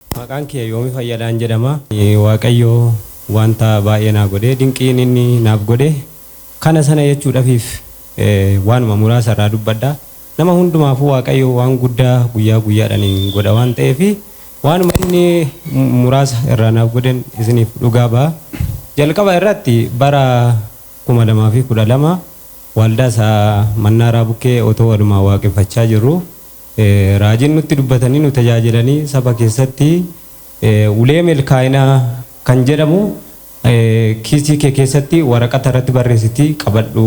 Maqaan kiyya Yoomi Fayyadaan jedhama. Waaqayyo wanta baay'ee naa godhe. Dinqiin inni naaf godhe kana sana jechuudhafiif waanuma muraasa irraa dubbadha. Nama hundumaafuu Waaqayyo waan guddaa guyyaa guyyaadhaan godha waan ta'eef waanuma inni muraasa irraa naaf godhen isiniif dhugaa ba'a. Jalqaba irratti bara 2012 waaldaa isaa Mannaaraa Bukkee otoo walumaan waaqeffachaa jirru Raajiin nutti dubbatanii nu tajaajilanii saba keessatti ulee milkaa'inaa kan jedhamu kiisii kee keessatti waraqata irratti barreessitii qabadhu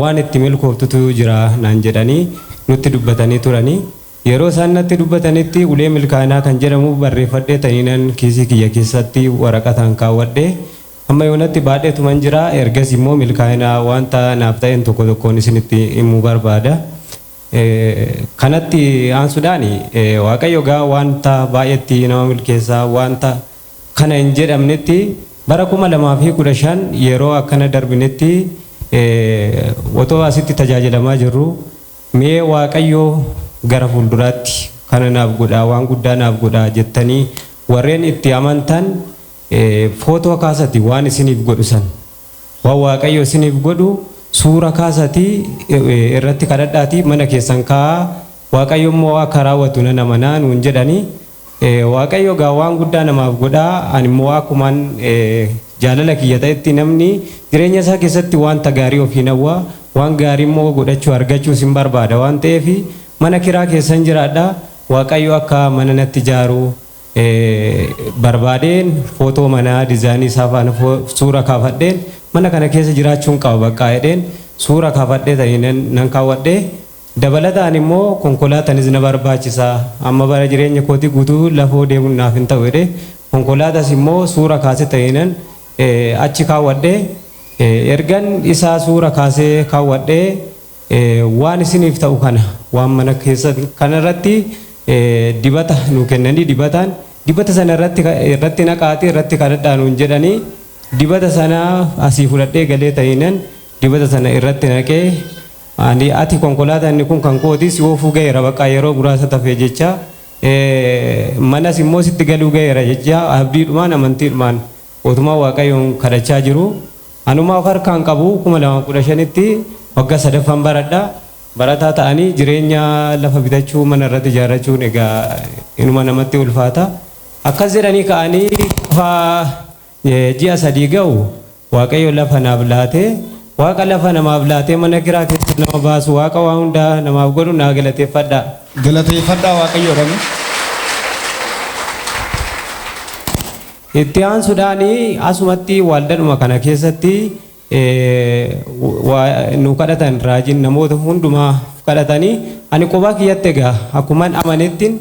waan itti milkooftutu jira naan jedhanii nutti dubbatanii turani. Yeroo isaan natti dubbatanitti ulee milkaa'inaa kan jedhamu barreeffadhee taniinan kiisii kiyya keessatti waraqataan kaawwadhe. Hamma yoonatti baadheetuman jira ergasii immoo milkaa'ina wanta naaf ta'een tokko tokkoon isinitti himuu barbaada. Kanatti aansudhaan Waaqayyo egaa waanta baay'eetti nama milkeessa, waanta kana hin jedhamnetti bara 2015 yeroo akkana darbinetti otoo asitti tajaajilamaa jirru mee Waaqayyo gara fuulduraatti kana naaf godha, waan guddaa naaf godha jettanii warreen itti amantan footoo kaasati waan isiniif godhu san. Waan Waaqayyo isiniif godhu suura kaasatii irratti kadhadhaatii mana keessan kaa'aa, Waaqayyo immoo akka raawwatu nan amana nuun jedhani. Waaqayyo egaa waan guddaa namaaf godha, ani immoo akkuman jaalala kiyya ta'etti namni jireenya isaa keessatti waanta gaarii ofiin hawwa, waan gaarii immoo godhachuu, argachuus hin barbaada waan ta'eef mana kiraa keessan jiraadha, Waaqayyo akka mana natti ijaaru barbaadeen footoo manaa dizaayinii isaa faana suura kaafadheen mana kana keessa jiraachuun qaba baqqaa jedheen suura kaafadhee ta'ineen nan kaawwadhee dabalataan immoo konkolaatanis na barbaachisa amma bara jireenya kootii guutuu lafoo deemuun naaf hin ta'u jedhee konkolaatas immoo suura kaasee ta'ineen achi kaawwadhee ergan isaa suura kaasee kaawwadhee Waan isiniif ta'u kana waan mana keessan kana irratti dibata nuu kennanii dibataan dibata sana irratti irratti naqaatii irratti kadhadhaa nuun jedhanii dibata sana asii fudhadhee galee ta'inan dibata sana irratti naqee ani ati konkolaataa inni kun kan kooti si oofuu ga'eera baqaa yeroo muraasa tafee jecha manas immoo sitti galuu ga'eera jecha abdiidhumaan amantiidhumaan Otumaa waaqayyoon kadhachaa jiruu anumaa of harkaa hin qabu 2015tti wagga sadaffan baradha barataa ta'anii jireenya lafa bitachuu mana irratti ijaarrachuun egaa inuma namatti ulfaata akkas jedhanii ka'anii gaafa ji'a sadii ga'u waaqayyo lafa naaf laatee waaqa lafa namaaf laatee mana kiraa keessa nama baasu waaqa waa hundaa namaaf godhu naa galateeffadha. Galateeffadhaa waaqayyoodhani. Itti aansudhaan asumatti waldadhuma kana keessatti nu kadhatan raajiin namoota hundumaaf kadhatanii ani qobaa kiyyatti egaa akkuman amanettin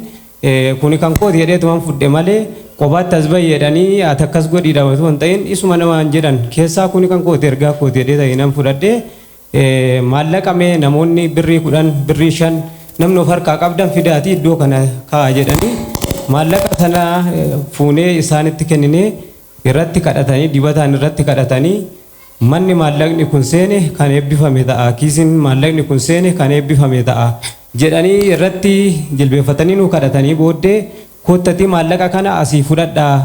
kuni kan kooti jedheetuman fudhe malee qobaatti as bahi jedhanii ati akkas godhiidha osoo hin ta'in isuma namaan jedhan keessaa kuni kan kooti ergaa kooti jedhee ta'e nan fudhadhe Maallaqa mee namoonni birrii kudhan, birrii shan namni of harkaa qabdan fidaatii iddoo kana kaa'a jedhanii maallaqa sana fuunee isaanitti kenninee irratti kadhatanii dibataan irratti kadhatanii manni maallaqni kun seene kan eebbifame ta'a kiisiin maallaqni kun seene kan eebbifame ta'a jedhanii irratti jilbeeffatanii nu kadhatanii booddee Koottatii maallaqa kana asii fudhadhaa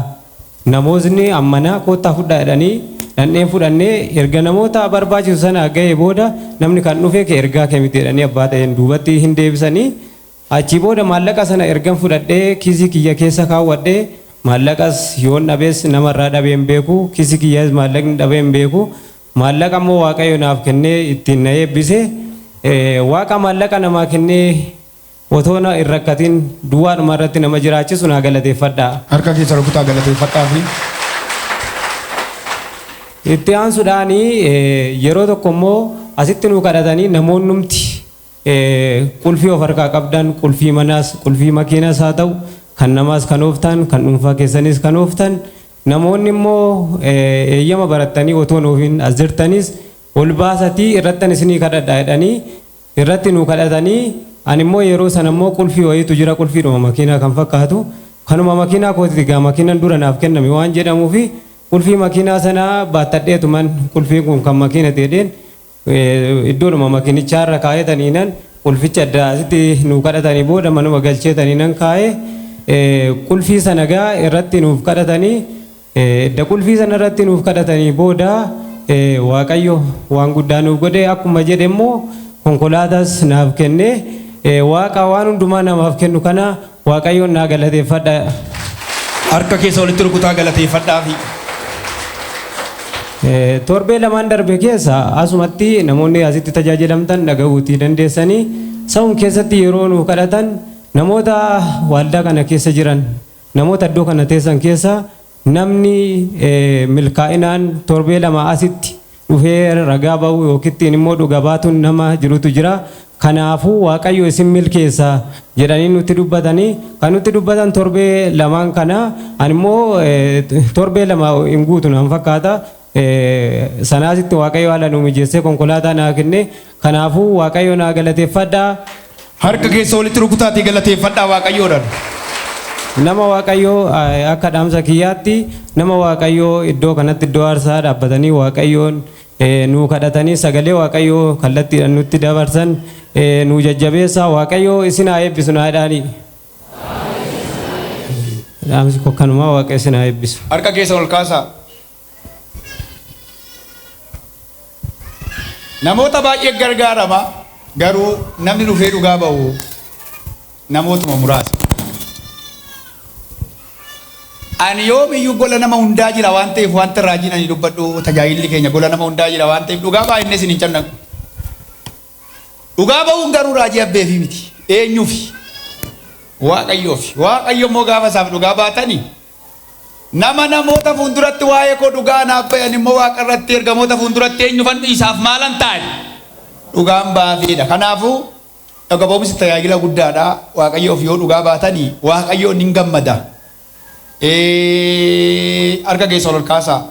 namootni ammanaa koottaa fudhaa jedhanii dhandheen fudhannee erga namoota barbaachisu sana ga'ee booda namni kan dhufee kee ergaa kee miti jedhanii abbaa ta'een duubatti hin deebisanii achii booda maallaqa sana ergan fudhadhee kiisii kiyya keessa kaawwadhe maallaqas yoon dhabes nama irraa dhabee hin beeku kiisii kiyyas maallaqni dhabee hin beeku maallaqa immoo waaqayyo naaf kennee ittiin na eebbise waaqa maallaqa namaa kennee Otoo na hin rakkatin duwwaadhuma irratti nama jiraachisu naa galateeffadhaa. Harka keessan rukutaa galateeffadhaafii. Itti aansuudhaan yeroo tokko immoo asitti nuu kadhatanii namoonnumti qulfii of harkaa qabdan qulfii manaas qulfii makiinaas haa ta'u kan namaas kan ooftan kan dhuunfaa keessaniis kan ooftan namoonni immoo eeyyama barattanii otoo hin oofin as jirtanis ol baasatii irrattan isinii kadhadha jedhanii irratti nuu kadhatanii ani immoo yeroo sana immoo qulfii wayiitu jira qulfiidhuma makiinaa kan fakkaatu kanuma makiinaa kootiti egaa makiinan dura naaf kenname waan jedhamuufi qulfii makiinaa sana baattadheetuman qulfiin kun kan makiinati jedheen iddoodhuma makiinichaarra kaa'eetaniinan qulficha adda asitti nuu kadhatanii booda manuma galcheetaniinan kaa'ee qulfii sana egaa irratti nuuf kadhatanii Edda qulfii sana irratti nuuf kadhatanii booda Waaqayyo waan guddaa nuuf godhe akkuma jedhe immoo konkolaataas naaf kenne. Waaqa waan hundumaa namaaf kennu kana Waaqayyoon naa galateeffadha. Harka keessa walitti rukutaa galateeffadhaafi. Torbee lamaan darbe keessa asumatti namoonni asitti tajaajilamtan dhaga'uutii dandeessanii sa'um keessatti yeroo nuuf kadhatan namoota waaldaa kana keessa jiran Namoota iddoo kana teessan keessaa namni milkaa'inaan torbee lamaa asitti dhufee ragaa ba'u yookittiin immoo dhuga baatuun nama jirutu jira. Kanaafuu Waaqayyo isin milkeessa jedhanii nutti dubbatanii kan nutti dubbatan torbee lamaan kana ani immoo torbee lama hin guutu naan fakkaata. Sanaa asitti Waaqayyo haala nuu mijeessee konkolaataa naa kenne. Kanaafuu Waaqayyo naa galateeffadhaa. Harka keessa walitti rukutaatii galateeffadhaa Waaqayyoodhaan. Nama Waaqayyo akka dhaamsa kiyyaatti nama Waaqayyoo iddoo kanatti iddoo aarsaa dhaabbatanii Waaqayyoon nuu kadhatanii sagalee Waaqayyoo kallattiidhaan nutti dabarsan nuu jajjabeessaa Waaqayyo isin haa eebbisu naa jedhaanii. Dhaamsi koo kanumaa Waaqayyo isin haa eebbisu. Harka keessa ol kaasaa. Namoota baay'ee gargaarama garuu namni dhufee dhugaa ba'u namootuma muraasa. Ani yoomiyyuu gola nama hundaa jira waan ta'eef wanta raajiin ani dubbadhu tajaajilli keenya gola nama hundaa jira waan ta'eef dhugaa baay'inni isin hin cannaqu. Dhugaa ba'uun garuu raajii abbeefii miti eenyuufi waaqayyoofi waaqayyo immoo gaafa isaaf dhugaa baatanii Nama namoota fuulduratti waa'ee koo dhugaa anaaf bayan immoo waaqa irratti ergamoota fuulduratti eenyufan dhiisaaf maalan taa'e? Dhugaan baafii dha. Kanaafuu dhuga ba'umsi tajaajila guddaa dha. Waaqayyoof yoo dhugaa baatanii waaqayyoon hin gammada. Ee, Harka keessan ol kaasaa.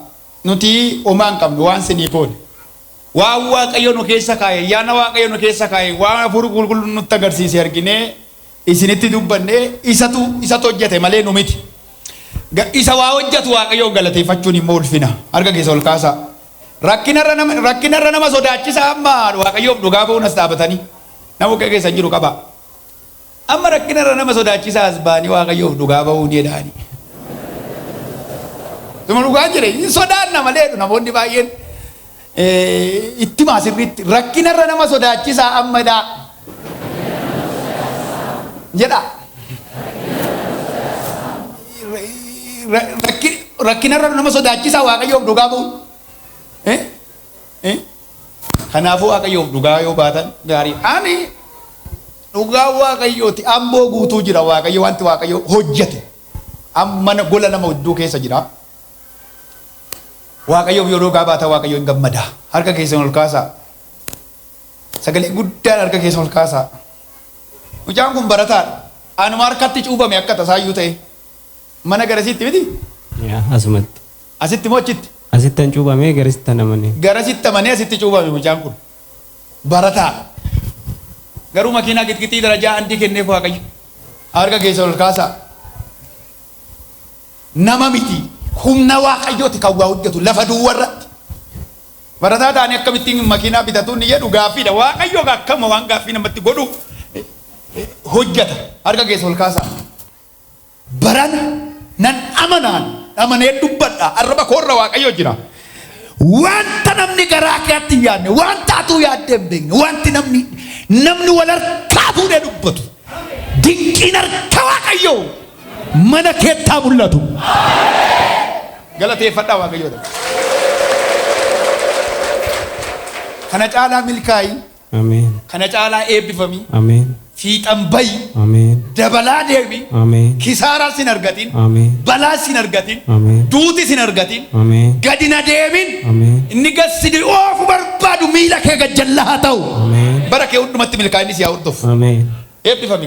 Nuti homaa hin qabnu waan sinii koone. Waan waaqayyo nu keessa kaa'e, ayyaana waaqayyo nu keessa kaa'e, waan hafuurri qulqulluun nutti agarsiise arginee isinitti dubbanne isatu isatu hojjete malee nu miti. Ga- Isa waa hojjetu Waaqayyoon galateeffachuun immoo ulfina. Harka keessa ol kaasaa. Rakkinarra nama rakkinarra nama sodaachisa amma Waaqayyoof dhugaa ba'uun as dhaabatanii. Nama bukkee keessa hin jiru qabaa. Amma rakkinarra nama sodaachisa as ba'anii Waaqayyoof dhugaa ba'uu ni jedhaani. Tuma dhugaa jire hin sodaanna malee namoonni baay'een Itti himaa sirriitti rakkina irra nama sodaachisaa amma dhaa jedha. Rakkina irra nama sodaachisaa waaqayyoof dhugaa ba'u. Kanaafuu waaqayyoof dhugaa yoo baatan gaarii. Ani dhugaa waaqayyooti amboo guutuu jira waaqayyo wanti waaqayyo hojjete mana gola nama hedduu keessa jira. Waaqayyoof yoo dhugaa baatan Waaqayyo in gammada. Harka keessan ol kaasaa. Sagalee guddaan harka keessan ol kaasaa. Mucaan kun barataadha. Anuma harkatti cuubame akka tasaayyuu ta'e. Mana garasiitti miti? Yaa asumatti. Asitti moo achitti? Asittan cuubamee garisittan amanee. Garasitti amanee asitti cuubame mucaan kun. Barataa. Garuu makiinaa qixqixii darajaa andii kenneef Waaqayyo. Harka keessan ol kaasaa. nama miti. Humna Waaqayyooti kan waa hojjetu lafa duwwa irratti. Barataa taanee akkamittiin makiinaa bitatu inni jedhu gaaffiidha. Waaqayyo egaa akkama waan gaaffii namatti godhu hojjeta. Harka keessa ol kaasaa. Barana nan amanaan amanee dubbadha. Arraba koorra Waaqayyo jira. Wanta namni garaa keetti hin yaadne, wanta atuu yaaddee hin beekne, wanti namni namni wal harkaa fuudhee dubbatu dinqiin harka Waaqayyoo mana keetti haa mul'atu. Galateeffadhaa Waaqayyoo dha. Kana caalaa milkaa'i, Ameen. kana caalaa eebbifami, Ameen. fiixan bayi, Ameen. dabalaa deemi, Ameen. kisaaraa sin argatin, Ameen. balaa sin argatin, Ameen. duuti sin argatin, Ameen. gadi na deemin, Ameen. inni gad si oofu barbaadu miila kee gad jalla haa ta'u. Ameen. Bara kee hundumatti milkaa'inni si haa hordofu. Ameen. Eebbifami.